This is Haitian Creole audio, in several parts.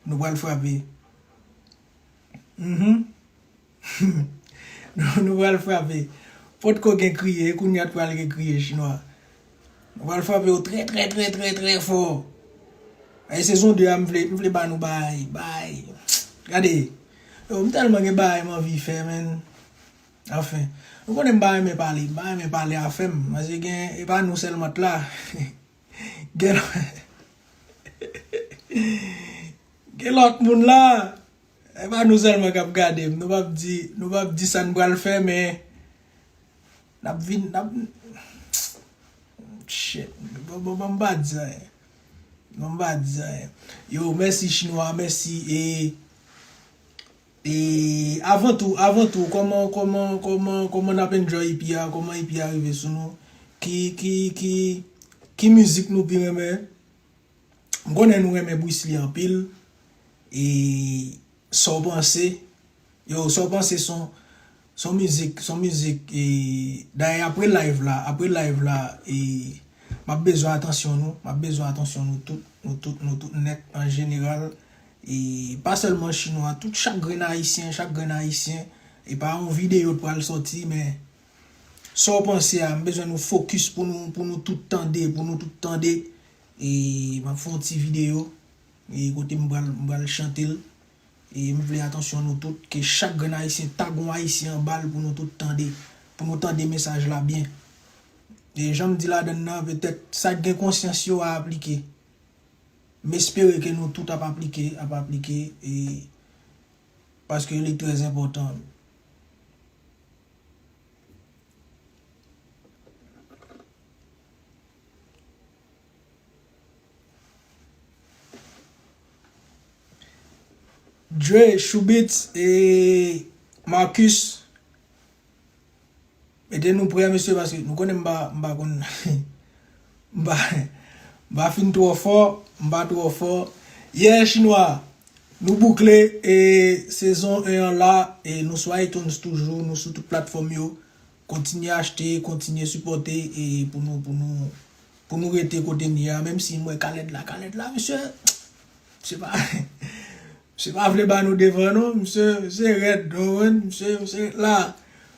Nou pral frape humm Nou pral frape Potko gen kriye e kounya t pral gen kriye chinwa Nou pral frape yo trè trè trè trè trè fò Ayy sezon 2 a m vle m vle ba nou baay baay Gade Yow m tèlman gen baay m anvi fè menn Anfen Nou konnen m pa renmen pale m pa renmen pale afè m paske gen e pa nou sèlman t la. Gen Gen lòt moun la E pa nou sèlman kap gadem Nou pap di Nou pap di sa nou pral fè men Nap vin Nap Shit Bon bon banm pa di anyen Banm pa di anyen Yo mèsi chinwa mèsi e E avan tou avan tou kòman kòman kòman kòman nap enjoy ipi a kòman ipi a rive sou nou ki ki ki ki mizik nou pi renmen m konnen nou renmen bwisli anpil e sa w panse yo sa w panse son Son mizik son mizik e dayè apre live la apre live la e map bezwen atansyon nou map bezwen atansyon nou tout nou tout nou tout nèt an jeneral e pa sèlman chinwa tout chak grenn ayisyen chak grenn ayisyen e pa yon videyo t pral sòti men Saw panse a m bezwen nou fokis pou nou pou nou tout tande pou nou tout tande e map fè yon ti videyo e kote m pral m pral chante l E m vle atansyon nou tout, ke chak grenn Ayisyen ta gon Ayisyen anba l pou nou tout tande, pou nou tande mesaj la byen. E jan m di ladann nan, petèt sa k gen konsyans yo a aplike. M espere ke nou tout ap aplike, ap aplike e paske li trè enpòtan. Dre, Shoubitz e Marcus mete nou prè mesye paske nou konnen m pa m pa konn m pa m pa fin twò fò m pa twò fò Yeah chinwa Nou boukle e sezon 1 an la e nou sou iTunes toujou nou sou tout platfòm yo Kontinye achte, kontinye sipòte e pou nou pou nou pou nou rete kote n ye a menm si m wè kalèt la kalèt la misye misye pa misye pa vle ba nou devan non misye misye rèd ou konprann misye misye ret la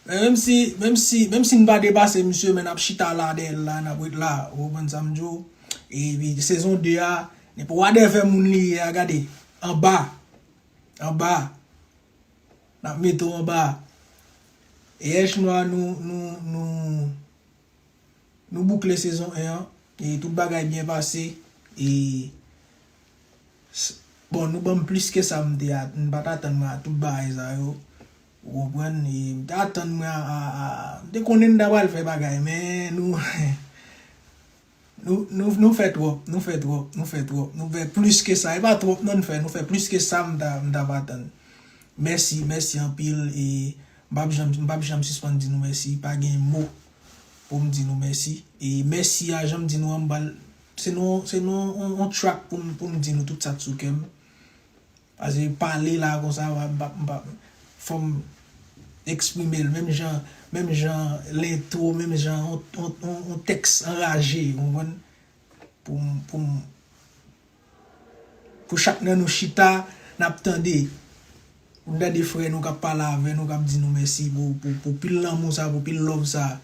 men menm si menm si menm si n pa depase misye men n ap chita la dèyè l la n ap ret la ou konprann sa m di w e pi sezon 2 a depi wadèvè moun li ye a gade anba anba Nap mete w anba Eèch nwa nou nou nou boukle sezon 1 an e tout bagay byen pase e bon nou banm plis ke sa m te atann m pat atann mwen a tout bagay sa yo ou konprann e m te atann mwen a a m te konnen n ta pral fè bagay men nou Nou nou fè twòp nou fè twòp nou fè twòp nou fè plis ke sa e pa twòp non nou fè nou fè plis ke sa m ta m ta va tann mèsi mèsi anpil e m pap janm m pap janm sispann di nou mèsi pa gen mo pou m di nou mèsi e mèsi a jan m di nou an m bal se nou se nou on track pou m pou m di nou tout sa k sou kè m. Pase pale la konsa m pa m pa fòm eksprime l menm jan menm jan lentwo menm jan yon tèks anraje ou konprann pou m pou m pou chak nan nou chita n ap tande pou n tande frè nou k ap pale avè nou k ap di nou mèsi pou pil lanmou sa pou pil love sa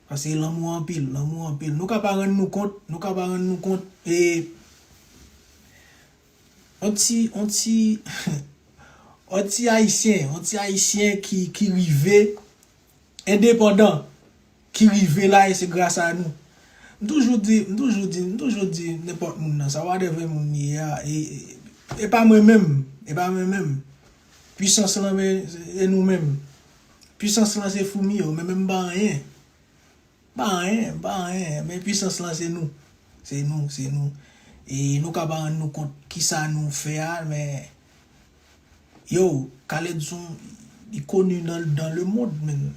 pase lanmou an anpil lanmou an anpil nou ka pa rann nou kont nou ka pa rann nou kont e. On ti on ti on ti ayisyen on ti ayisyen ki ki rive endepandan ki rive la e se gras a nou m toujou di m toujou di m toujou di nenpòt moun nan sa whatever moun li ye a e e pa mwen menm e pa mwen menm pwisans lan se nou menm pwisans lan se foumi yo men menm m pa anyen. M pa anyen, m pa anyen, men pwisans lan se nou. Se nou, se nou. E nou ka pa rann nou kont kisa nou fè a, men yow, Khaled son, li koni nan le mond menn.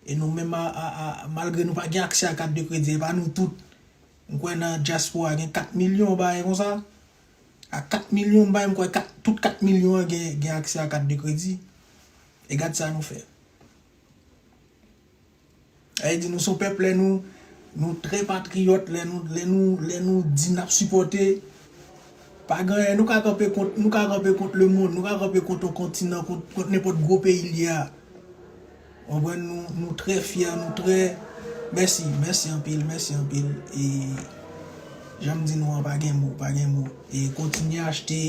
E nou menm a, a, a, malgre nou pa gen aksè a kat de kredi, e pa nou tout. M kwè nan dyaspora gen 4 milyon yon bagay konsa. A 4 milyon m bay, m kwè kat, tout 4 milyon an gen, gen aksè a kat de kredi. E gad sa nou fè. Sa vle di nou son pèp lè nou nou trè patriyòt lè nou lè nou lè nou di nap sipòte pa gen anyen nou ka kanpe kont nou ka kanpe kont lemonn nou ka kanpe kont yon kontinan kont kont nenpòt gwo peyi l ye a konprann nou nou trè fyè nou trè mèsi mèsi anpil mèsi anpil e janm di nou an pa gen mo pa gen mo e kontinye achte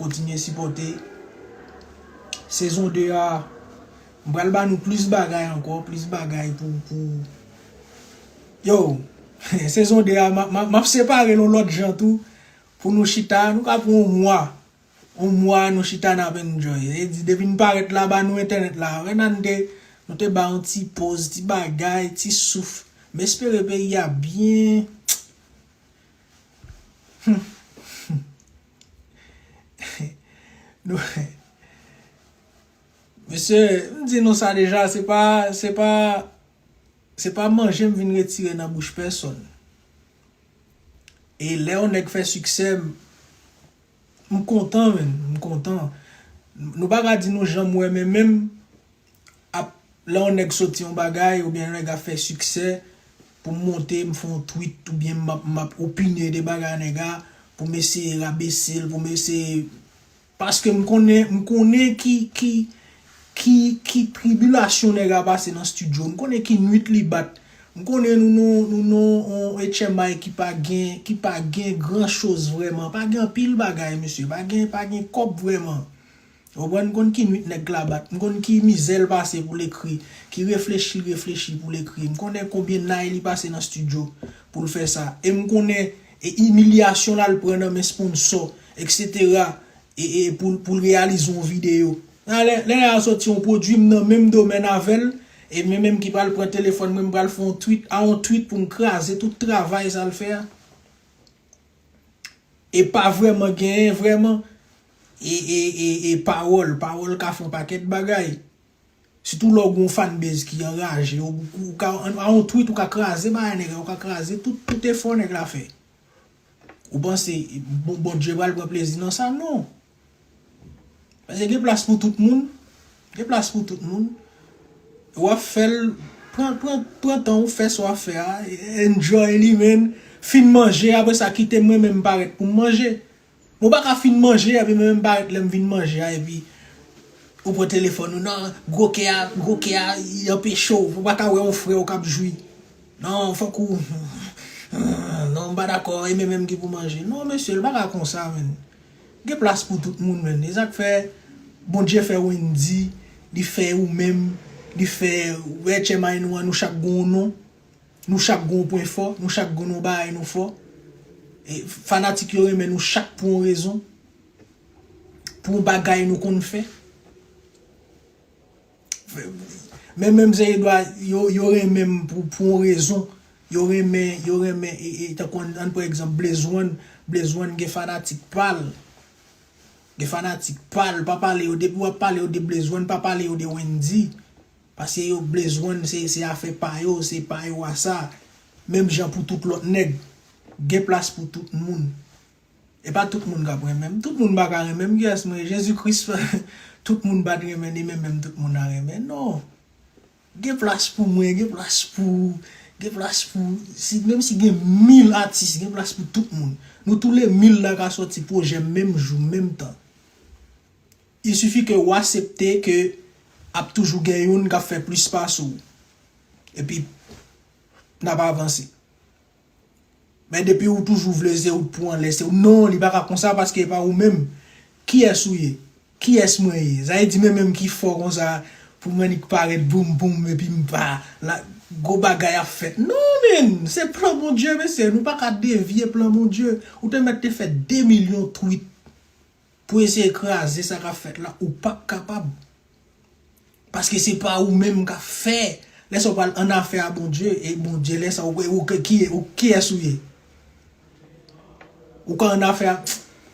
kontinye sipòte sezon 2 a. M pral ba nou plis bagay ankò, plis bagay pou pou Yo! Sezon 2 a ma ma map separe l yon lòt jan tou pou nou chita, nou ka pran yon mwa, yon mwa nou chita nap enjoy. E di depi n parèt la ba nou entènèt la. Wè nan te nou te bay yon ti poz, ti bagay, ti souf. M espere peyi a byen Humm humm Nou. Mesye, m di nou sa deja, se pa, se pa, se pa manje m vin retire nan bouch pèsonn. E lè yon nèg fè siksè, m kontan menn, m kontan. Nou pa ka di nou jan m wè men menm, ap, lè yon nèg soti yon bagay oubyen yon nèg ap fè siksè, pou m monte m fè yon tweet oubyen m ap, m ap opine de bagay nèg a, pou m eseye rabese l, pou m eseye Paske m konnen, m konnen ki, ki, ki, ki tribilasyon nèg a pase nan studio, m konnen ki nwit li bat, m konnen nou nan, nou nan on etchèmay ki pa gen, ki pa gen gran choz vrèman, pa gen anpil bagay mesye, pa gen, pa gen kòb vrèman. Ou konprann? M konn ki nwit nèg la bat, m konn ki mizè l pase pou l ekri, ki reflechi l reflechi pou l ekri, m konnen konbyen nay li pase nan studio pou l fè sa, e m konnen E imilyasyon lal pran nan men sponsò etc e e poul poul reyalize yon video. Nan lè lè a soti yon pwodwi m nan menm domèn avèl e mwen menm ki pral pran telefòn mwen m pral fè yon twit a yon twit poum kraze tout travay sal fè a e pa vrèman genyen vrèman e e e e pawòl pawòl ka fè yon pakèt bagay. Sitou lè ou gen yon fanbase ki anraje ou ou ka a yon tweet ou ka kraze bagay nèg la ou ka kraze tout tout efò nèg la fè. Ou panse Bondye pral pran plezi nan sa non. Pase gen plas pou tout moun, gen plas pou tout moun. Ou ap fèl pran pran pran tan ou fè sa w ap fè a enjoy li men fin manje apre sa kite mwen menm parèt pou m manje. Mwen pa ka fin manje epi mwen menm pa ret lèm fin manje a epi ou pran telefòn ou nan gwo kè a gwo kè a li anpeche w ou pa ka wè yon frè w kap jwi nan fòk ou nan m pa dakò e mwen menm ki pou manje non mesye l pa ka konsa menn gen plas pou tout moun menn e sak fè Bondye fè Wendy li fè ou menm li fè wè tchèmay nou an nou chak gon w non. Nou chak gon yon pwen fò, nou chak gon yon bagay nou fò. Fanatik yo renmen nou chak pou yon rezon, pou yon bagay nou konn fè. Menm menm zè Edwa yo renmen m pou yon rezon, yo renmen, yo renmen e tan kon an pran egzanp Blaze one, Blaze one gen fanatik pa l. Gen fanatik pa l, pa pale yo depi w ap pale yo de Blaze one, pa pale yo de Wendyy. Paske yo blezwenn se se afè pa yo se pa yo a sa menm jan pou tout lòt nèg gen plas pou tout moun e pa tout moun kap renmen m tout moun pa ka renmen m kiyès mwen ye Jezi Kris fè tout moun pat renmen ni men menm tout moun a renmen non gen plas pou mwen gen plas pou ou gen plas pou si menm si gen mil atis gen plas pou tout moun nou tou le mil la ka sòti pwojè menm jou menm tan. Il suffit ke ou asepte ke ap toujou gen youn kap fè plis pase w. Epi nap avanse. Men depi ou toujou vle se ou t pou anlè se ou non li paka konsa paske epa ou menm kiyès ou ye? Kiyès mwen ye? Sa vle di mwen menm ki fò konsa pou m annik parèt boum boum epi m pa la gwo bagay ap fèt non menn se plan Bondye mesye nou paka devye plan Bondye ou te mèt te fè 2 milyon tweet pou eseye kraze sa kap fèt la ou pap kapab paske se pa ou menm kap fè lè sa ou pral an afè a Bondye e Bondye lè sa ou kiyès ou ye ou ka an afè a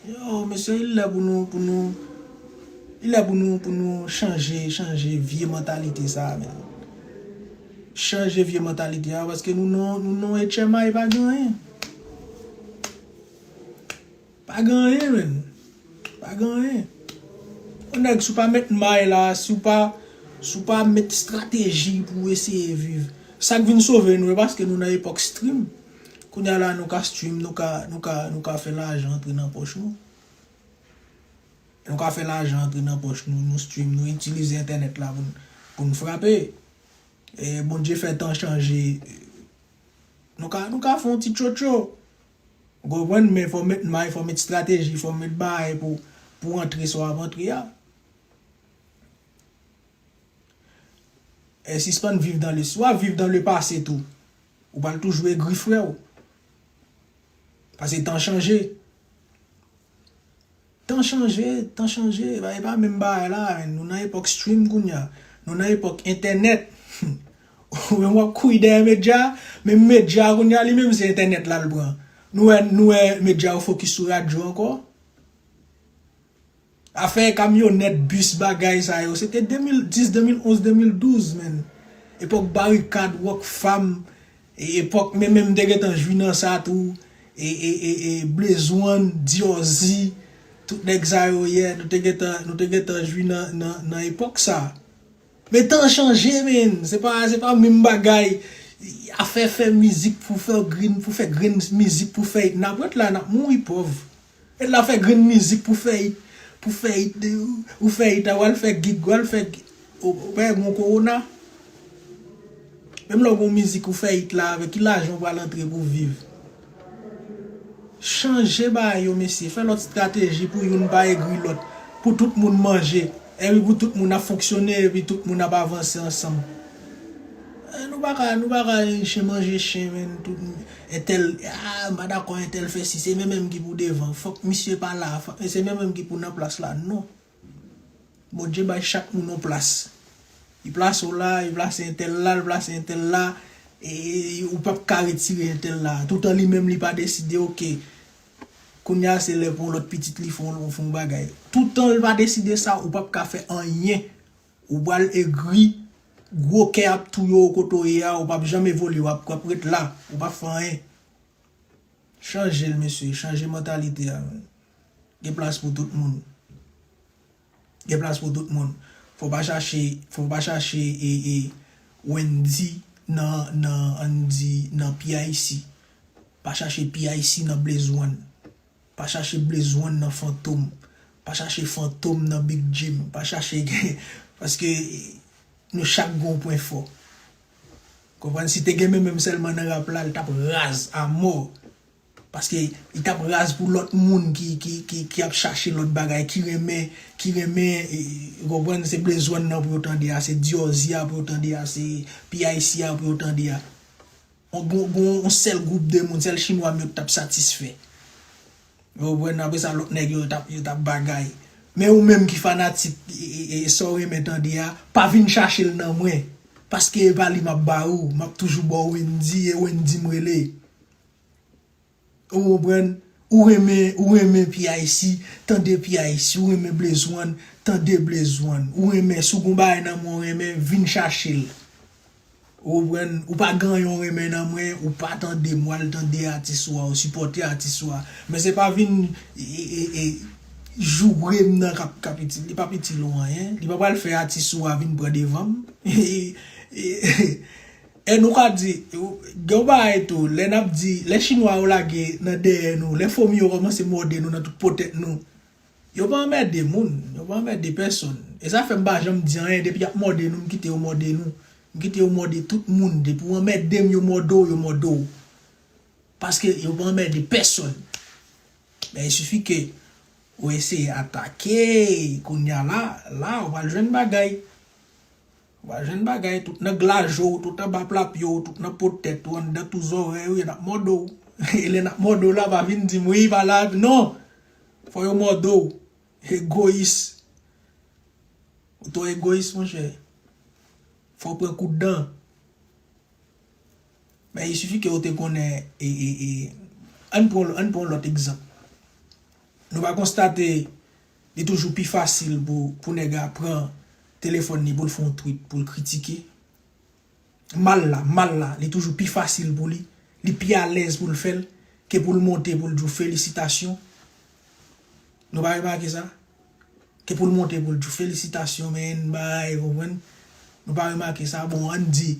yo mesye il lè pou nou pou nou il lè pou nou pou nou chanje chanje vye mantalite sa men chanje vye mantalite a paske nou nan nou nan etchèmay pa gen anyen. Pa gen anyen menn. Pa gen anyen. Yon nèg si w pa met may la, si w pa si w pa met strateji pou w eseye viv. Sa k vin sove nou e paske nou nan epòk stream. Kounye a la nou ka stream, nou ka nou ka nou ka fè lajan antre nan pòch nou. Nou ka fè lajan antre nan pòch nou, nou stream, nou itilize entènèt la pou n pou n frape. E Bondye fè tan chanje. Nou ka nou ka fè yon ti tchotcho. Ou konprann men fò met may fò met strateji fò met bagay pou pou antre sa w ap antre a e sispann viv dan le si w ap viv dan le pase tou ou pral toujou egri freo pase tan chanje. Tan chanje, tan chanje, e pa menm bagay la, nou nan epòk stream kounya, nou nan epòk entènèt, ou menm wap kouri dèyè medya, menm medya kounya li menm se entènèt lal pran, nou wè nou wè medya yo fokis sou radyo ankò, afè kamyonèt, bis bagay sa yo se te 2010, 2011, 2012 menn, epòk barikad, rockfam, E epok me menm te gentan jwi nan sa tou e e e e blaze one diorzi tout neg sa yo yè nou te gentan nou te gentan jwi nan nan nan epok sa men tan chanje menn se pa se pa menm bagay afè fè mizik pou fè grenn pou fè grenn mizik pou fè it nap ret la nap mouri pov. E la fè grenn mizik pou fè it pou fè it de ou fè it a wal fè gig wal fè gig ou pa wè gon kowona menm lè ou gon mizik ou fè it la avè ki lajan ou pral antre pou viv chanje bagay yo mesye fè lòt strateji pou youn pa egri lòt pou tout moun manje epi pou tout moun ap fonksyone epi tout moun ap avanse ansanm nou paka nou paka chen manje chen menn tout moun. Entèl ah m pa dakò entèl fè si se men menm ki pou devan fòk misye pa la e se men menm ki pou nan plas la non Bondye bay chak moun yon plas li plase w la li plase entèl la li plase entèl la e ou pap ka retire entèl la toutan li menm li pa deside ok kounya se lè pou yon lòt pitit li fè yon bagay toutan l pa deside sa ou pap ka fè anyen Ou pral egri, gwo kè ap touye w kote w ye a, ou pap janm evolye, wap wap ret la, ou pap fè anyen. Chanje l mesye, chanje mantalite a man. Gen plas pou tout moun. Gen plas pou tout moun. Fò w pa chache, fò w pa chache e e Wendy nan nan an di nan PIC. Pa chache PIC nan Blaze One. Pa chache blezwen nan fantom Pa chache fantom nan big jim Pa chache gen Paske Nou chak gen yon pwen fò Konprann si te gen men menm sèlman nan rap la li tap raz a mò Paske li tap raz pou lòt moun ki ki ki ki ap chache lòt bagay ki renmen ki renmen ou konprann se blezwen nan pou yo tande a se dyòzya pou yo tande a se pyc a pou yo tande a. Gon yon sèl gwoup de moun, sèl chinwa m yo ki t ap satisfè. Ou konprann? Apre sa lòt nèg yo t ap bagay. Men ou menm ki fanatik sa w renmen tande a, pa vin chache l nan mwen. Paske e pa li m ap ba ou. M ap toujou ba w Wendyy e Wendyy m rele. Ou konprann? Ou renmen, ou renmen PIC, tande PIC, ou renmen Blaze One, tande Blaze One. Ou renmen, si w gon bagay nan mwen w renmen, vin chache l. Ou konprann? Ou pa gen anyen w renmen nan mwen, ou pa tande m, w al tande atis ou a, ou sipòte atis ou a. Men se pa vin joure m nan k ap itil, li p ap itil ou anyen. Li pa pral fè atis ou a vin pran devan m. E nou ka di, gen yon bagay tou, lè n ap di, lè chinwa yo lage nan dèyè nou, lè fomi yo kòmanse mòde nou nan tout po tèt nou, yo pa anmède moun, yo pa anmède pèsonn. E sa fè m pa janm di anyen, depi y ap mòde nou, m kite yo mòde nou. M kite yo mòde tout moun. Depi ou anmède m, yo mòde w, yo mòde w. Paske yo pa anmède pèsonn. Men il suffit ke ou eseye atake, kounya la, la ou pral jwenn bagay. Wap jwenn bagay tout nan glaje w, tout anba pla pye w, tout nan po tèt ou, anndan tou zòrèy ou, yo nap mòde w. E lè nap mòde w la pa vin di m wi pa la epi non! Fò yo mòde w. Egoyis. Ou twò egoyis monchè. Fò w pran kout dan. Men il suffit ke ou te konnen e e e ann pran ann pran yon lòt egzanp. Nou pa konstate Li toujou pi fasil pou pou nèg la pran telefòn li poul fè yon tweet poul kritike mal la mal la li toujou pi fasil pou li li pi alèz poul fèl ke poul monte poul di w felisitasyon nou pa remake sa ke poul monte poul di w felisitasyon menn bay ou konprann nou pa remake sa bon ann di.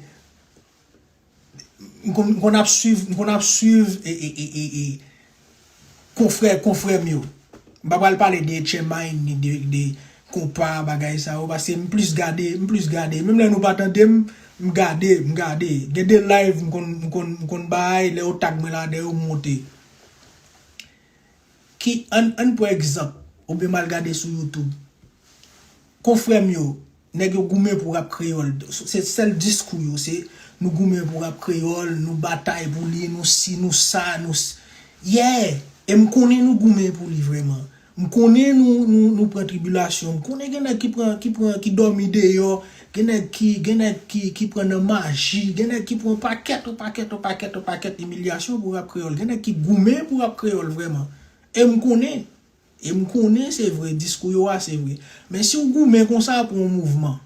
M konn ap swiv, m konn ap swiv e konfrè, konfrè m yo. M pa pral pale de Etchemin ni de Kompa bagay sa yo paske m plis gade, m plis gade. Menm lè nou pa tande m, m gade, m gade. Gen de live m konn, m konn, m konn bay lè yo tag mwen ladan yo m monte. Ki, ann, ann pran egzanp, oubyen m al gade sou YouTube. Konfrè m yo, nèg yo goumen pou rap kreyòl. Se sèl diskou yo, se nou goumen pou rap kreyòl, nou batay pou li, nou si, nou sa, nou s. Yeah! E m konnen nou goumen pou li vrèman. M konnen nou, nou, nou pran tribilasyon. M konnen gen nèg ki pran, ki pran, ki dòmi deyò. Gen nèg ki, gen nèg ki, ki pran nan maji, gen nèg ki pran yon pakèt, yon pakèt, yon pakèt, yon pakèt imilyasyon pou rap kreyòl. Gen nèg ki goumen pou rap kreyòl vrèman. E m konnen, e m konnen se vre, diskou yo a se vre. Men si w goumen konsa pou yon mouvman,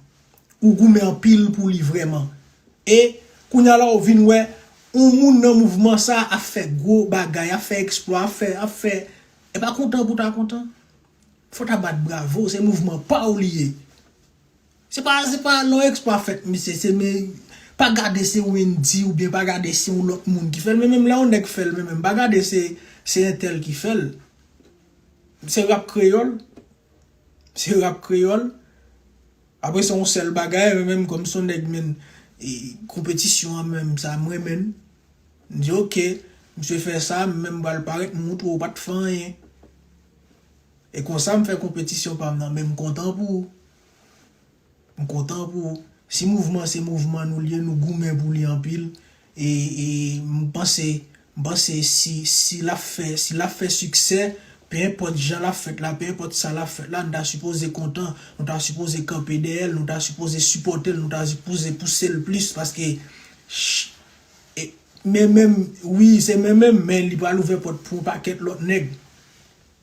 ou goumen anpil pou li vrèman, e kounye a la ou vin wè yon moun nan mouvman sa a ap fè gwo bagay, ap fè eksplwa, ap fè, ap fè, e pa kontan pou w ta kontan? Fò w ta bat bravo, se mouvman pa w li ye. Se pa se pa yon exploit fèt misye se men pa gade se Wendy oubyen pa gade se yon lòt moun ki fèl men menm lè yon nèg fèl men menm pa gade se se entèl ki fèl se rap kreyòl se rap kreyòl apre se yon sèl bagay men menm kòm se yon nèg menn konpetisyon an menm sa m renmenn m di ok misye fè sa men menm m pral parèt m montre w pat fè anyen. E konsa m fè konpetisyon pa m nan men m kontan pou ou. M kontan pou ou. Si mouvman se mouvman nou liye nou goumen pou li anpil e m panse m panse si si l ap fè si l ap fè siksè pe enpòt jan l ap fèt la pe enpòt sa l ap fèt la nou ta sipoze kontan nou ta sipoze kanpe dèyè l nou ta sipoze sipòte l nou ta sipoze pouse l plis paske e men men m wi se men men m men li pral ouvè pòt pou yon pakèt lòt nèg.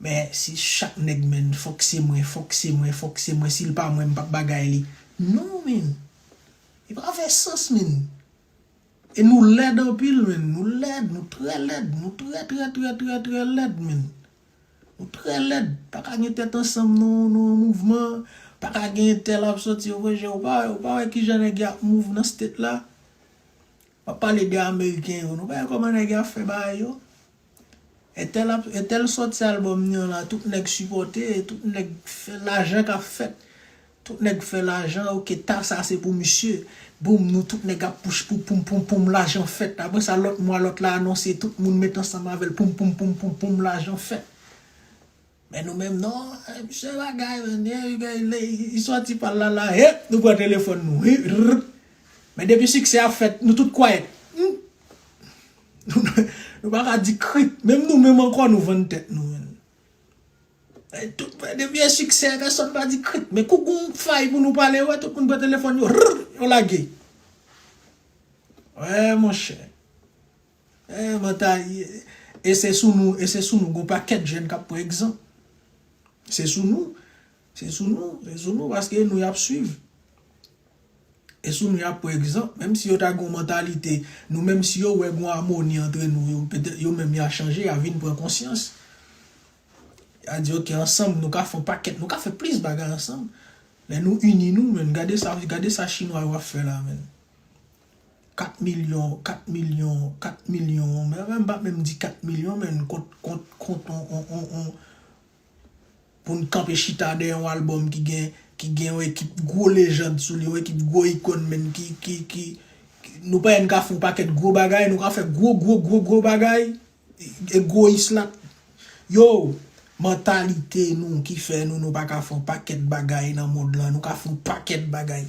Men si chak nèg menn fòk se mwen fòk se mwen fòk se mwen sil pa mwen m pap bagay li non menn li pa fè sans menn e nou lèd anpil menn nou lèd nou trè lèd nou trè trè trè trè trè lèd menn nou trè lèd paka gen tèt ansanm non nou an mouvman paka gen entèl ap sòti ouvè jèw ou pa wè ou pa wè kijan nèg yo ap mouv nan state la map pale de ameriken yo nou pa wè kòman nèg yo ap fè bagay yo. Entèl ap entèl soti al bò mnyon la tout nèg sipòte tout nèg fè lajan kap fèt tout nèg fè lajan ok ta sa se pou misye boum nou tout nèg ap pouch pou poum poum poum lajan fèt apre sa lòt mwa lòt la anonse tout moun met ansanm avèl poum poum poum poum poum lajan fèt. Men nou menm non eh se bagay men eh gay lè li sòti pal la la hep nou pran telefòn nou hirr men depi siksè a fèt nou tout kwayèt humm nou paka di krik menm nou menm ankò nou vann tèt nou menn eh tout men depi gen siksè pèsòn pa di krik men kou gon fay pou nou pale ou wè tout moun pran telefòn yo hirr yo lage wè monchè. Eeh mwen ta E se sou nou, e se sou nou, gen yon pakèt jèn kap pran egzanp. Se sou nou, se sou nou, se sou nou paske e nou yap swiv. E sou nou yap pran egzanp, menm si yo ta gen yon mantalite, nou menm si yo wè gen yon amoni antre nou, yo petèt yo menm ya chanje, ya vin pran konsyans. Ya di ok ansanm nou ka fè yon pakèt, nou ka fè plis bagay ansanm. Lè nou ini nou menn, gade sa, gade sa chinwa yo ap fè la menn. 4 milyon, 4 milyon, 4 milyon, mwen menm m pa menm di 4 milyon men kont, kont, kont on, on, on, on, pou n kanpe chita dèyè yon albòm ki gen, ki gen yon ekip gwo lejand sou li, yon ekip gwo ikòn menm ki, ki, ki, nou pa wè n ka fè yon pakèt gwo bagay, nou ka fè gwo, gwo, gwo, gwo bagay, egoyis la, yow, mantalite nou ki fè nou nou pa ka fè yon pakèt bagay nan mond lan, nou ka fè yon pakèt bagay.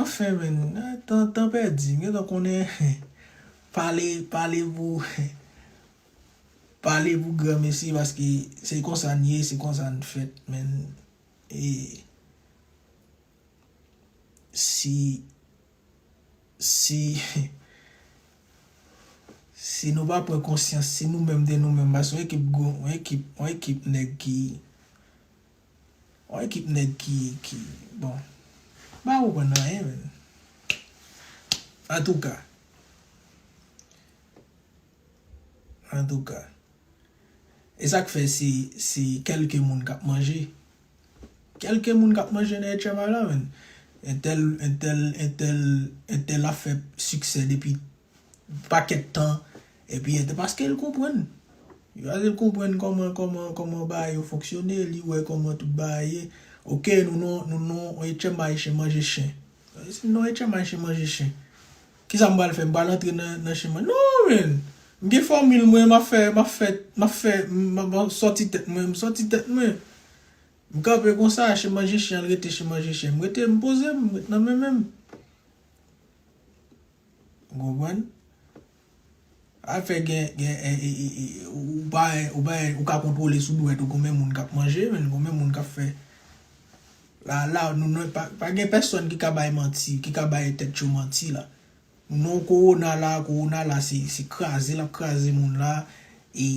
Anfen menn, tan tan pèdi, gentan konnen pale pale pou pale pou granmesi paske se konsa n ye, se konsa n fèt menn e si si si nou pa pran konsyans, si nou menm de nou menm paske yon ekip gwo, yon ekip yon ekip nèg ki. On ekip nèg ki ki bon m pa konprann anyen menn antouka antouka e sak fè se se kèlke moun kap manje kèlke moun kap manje nan etchyma la menn entèl entèl entèl entèl ap fè siksè depi pakèt tan epi entè paske l konprann paske l konprann kòman kòman kòman bagay yo fonksyone li wè kòman tout bagay ye ok nou nan nou nan yon etchèm bay chen manje chen si m nan yon etchèm bay chen manje chen kisa m pral fè m pral antre nan nan chen manje non menn m gen fòmil mwen m ap fè m ap fè m ap fè m ap sòti tèt mwen m sòti tèt mwen m kanpe konsa chen manje chen al rete chen manje chen m rete m poze m m ret nan menmen m. Ou konprann? Al fè gen ou pa ou pa ou ka kontwole sou dwèt ou konbyen moun kap manje menn konbyen moun kap fè la la nou nou pa gen pèsòn ki ka bay manti ki ka bay tèt yo manti la nou nou kowona la kowona la se se kraze lap kraze moun la e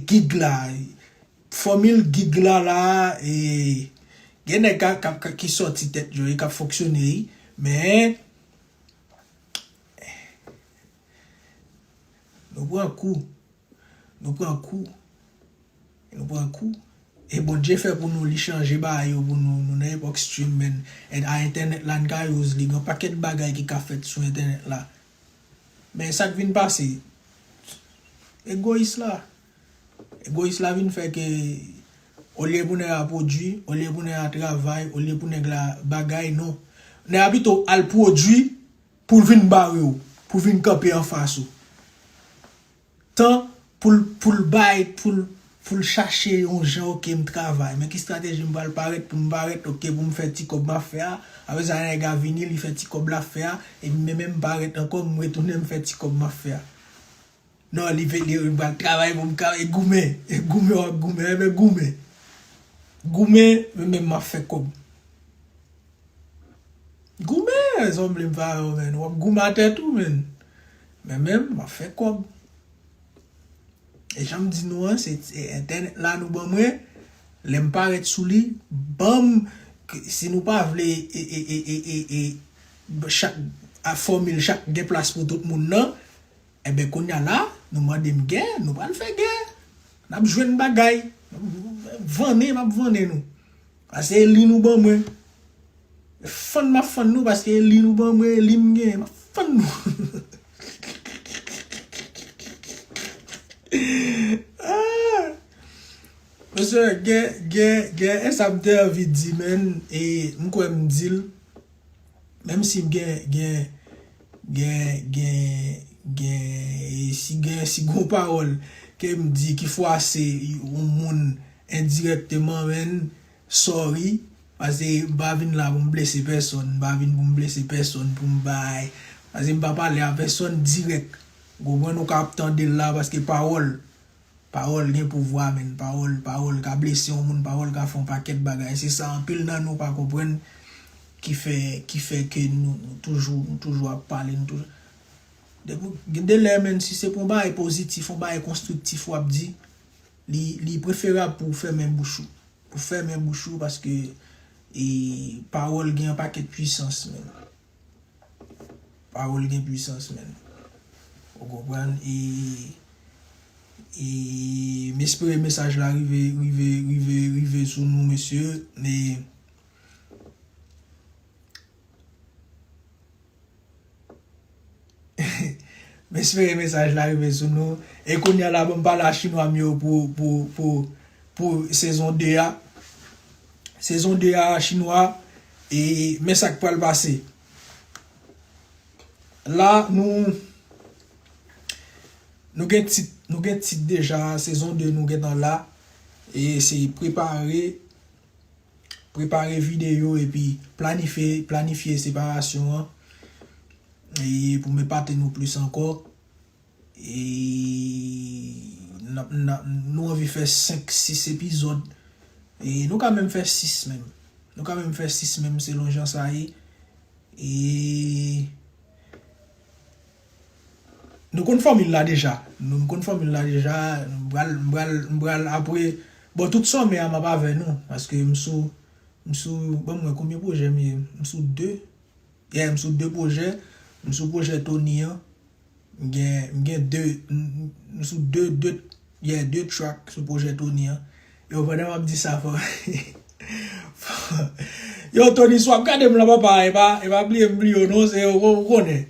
gig la Fòmil gig la la e gen nèg ka kap ka ki sòti tèt yo e kap fonksyone wi men nou pran kou nou pran kou nou pran kou e Bondye fè pou nou li chanje bagay yo pou nou nou nan epòk stream men and a entènèt la n ka use li gen yon pakèt bagay ki ka fèt sou entènèt la men sak vin pase egoyis la. Egoyis la vin fè ke olye pou nèg la pwodui, olye pou nèg la travay, olye pou nèg la bagay, non. Nèg la pito al pwodui pou l vin bare w, pou l vin kanpe anfas ou. Tan pou l, pou l bay, pou l, pou l chache yon jan, ok m travay, men ki strateji m pral parèt pou m parèt, ok pou m fè ti kòb m ap fè a. Apre sa nèg la vini, li fè ti kòb l ap fè a, epi m menm m parèt ankò, m retounen m fè ti kòb m ap fè a. Non li vle dire pral travay pou m ka e goumen e goumen wap goumen e ben goumen goumen men men map fè kob goumen zanmli m pa wè w menn wap goumen atè tou menn men men map fè kob e janm di nou an se entènèt la nou ban mwen lè m parèt sou li banm si nou pa vle e chak fòmil chak gen plas pou tout moun nan. Enben kounya la nou mande m gè nou pral fè gè nap jwenn bagay vannen map vannen nou pase eli nou ban mwen fann map fann nou paske eli nou ban mwen eli m genyen map fann nou hihihihihi mesye gen gen gen esam te anvi di menn e m kwè m dil. Menm si gen gen gen gen gen e si gen si gen yon pawòl kem di ki fwase yon moun endirèkteman menn sorry pase m pa vin la pou m blese pèsòn m pa vin pou m blese pèsòn pou m bay pase m pa pale a pèsòn dirèk ou konprann ou ka ap tande l la paske pawòl Pawòl gen pouvwa menn pawòl pawòl ka blese yon moun pawòl ka fè yon pakèt bagay se sa anpil nan nou pa konprann ki fè ki fè ke nou nou toujou nou toujou ap pale nou toujou depi w gen de lè menn si se pou yon bagay pozitif yon bagay konstriktif wap di li li preferab pou w fèmen bouch ou pou w fèmen bouch ou paske e pawòl gen yon pakèt pwisans menn. Pawol gen pwisans menn ou konprann e e m espere mesaj la rive rive rive rive sou nou mesye e M espere mesaj la rive sou nou. E kounye a la pou m pale a chinwa m yo pou sezon 2 a. Sezon 2 a chinwa e men sa k pral pase. La nou nou gen tit nou gen tit deja sezon 2 nou gentan la e se prepare. Prepare videyo epi planifye planifye separasyon an e pou m epate nou plis ankò e nap nap nou anvi fè 5 6 epizòd e nou ka menm fè 6 menm nou ka menm fè 6 menm selon jan sa ye e. Nou konn fòmil la deja. Nou konn fòmil la deja. M pral, m pral, m pral apre. Bon tout sòmè a m ap avè nou. Paske m sou, m sou, ban m wè konbyen pwojè m ye. M sou 2. Yeah, m sou 2 pwojè. M sou pwojè Tony an. M gen, m gen 2, m sou 2, 2, yeah, 2 track sou pwojè Tony an. Yo pandan m ap di sa fò. Yo Tony sou ap gade m lan papa. E pa, e pa bliye m bliye w non. Se, ou konnen.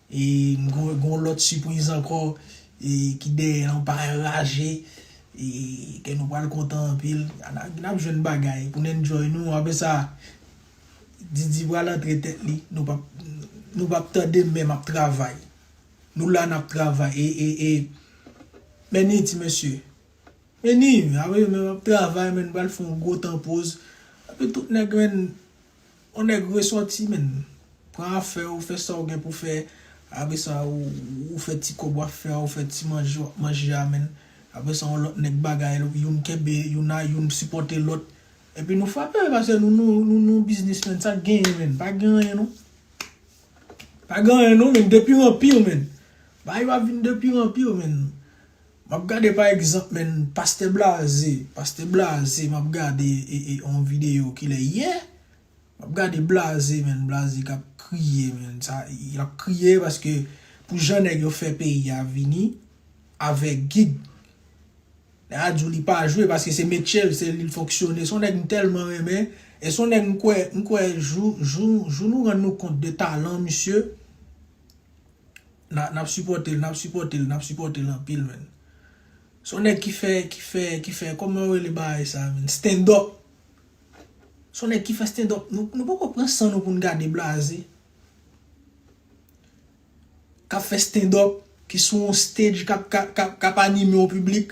E gon lot sipriz anko ki dèyè an pa raje e kè nou pral kontan anpil nap jwenn bagay poun enjoy nou apre sa Didi pral antre tèt li nou pap tande menm ap travay nou la nap travay e meni ti mesye meni apre menm ap travay men nou pral fon gwo tan poz apre tout nèg menn On nèg resòti menn, pran afè ou fè sa ou gen pou fè, apre sa ou fè ti kòb wap fè a ou fè ti manje wap manje a menn, apre sa on lòt nèg bagay l youn kenbe youn a youn sipòte lòt epi nou frape pase nou nou biznis menn sak genyen menn pa gen anyen non pa gen anyen non menn depire anpir menn bagay yo ap vin depire anpir menn. Map gade pa egzanp menn pastè blaze pastè blaze map gade yon video kilè yè map gade blaze menn blaze kap kriye menn sa lap kriye paske pou jan nèg yo fè peyi a vini avèg gig nèg la diw li pa jwe paske se metyel se li fonksyone son nèg m tèlman renmen e son nèg m kwè m kwè jou jou jou nou rann nou kont de talan misye. Nap sipòtel nap sipòtel nap sipòtel anpil menn son nèg ki fè ki fè ki fè kòman yo rele bagay sa menn stand up son nèg ki fè stand up nou poko pran san nou poun gade blaze kap fè stand up ki sou yon stage kap anime yon piblik.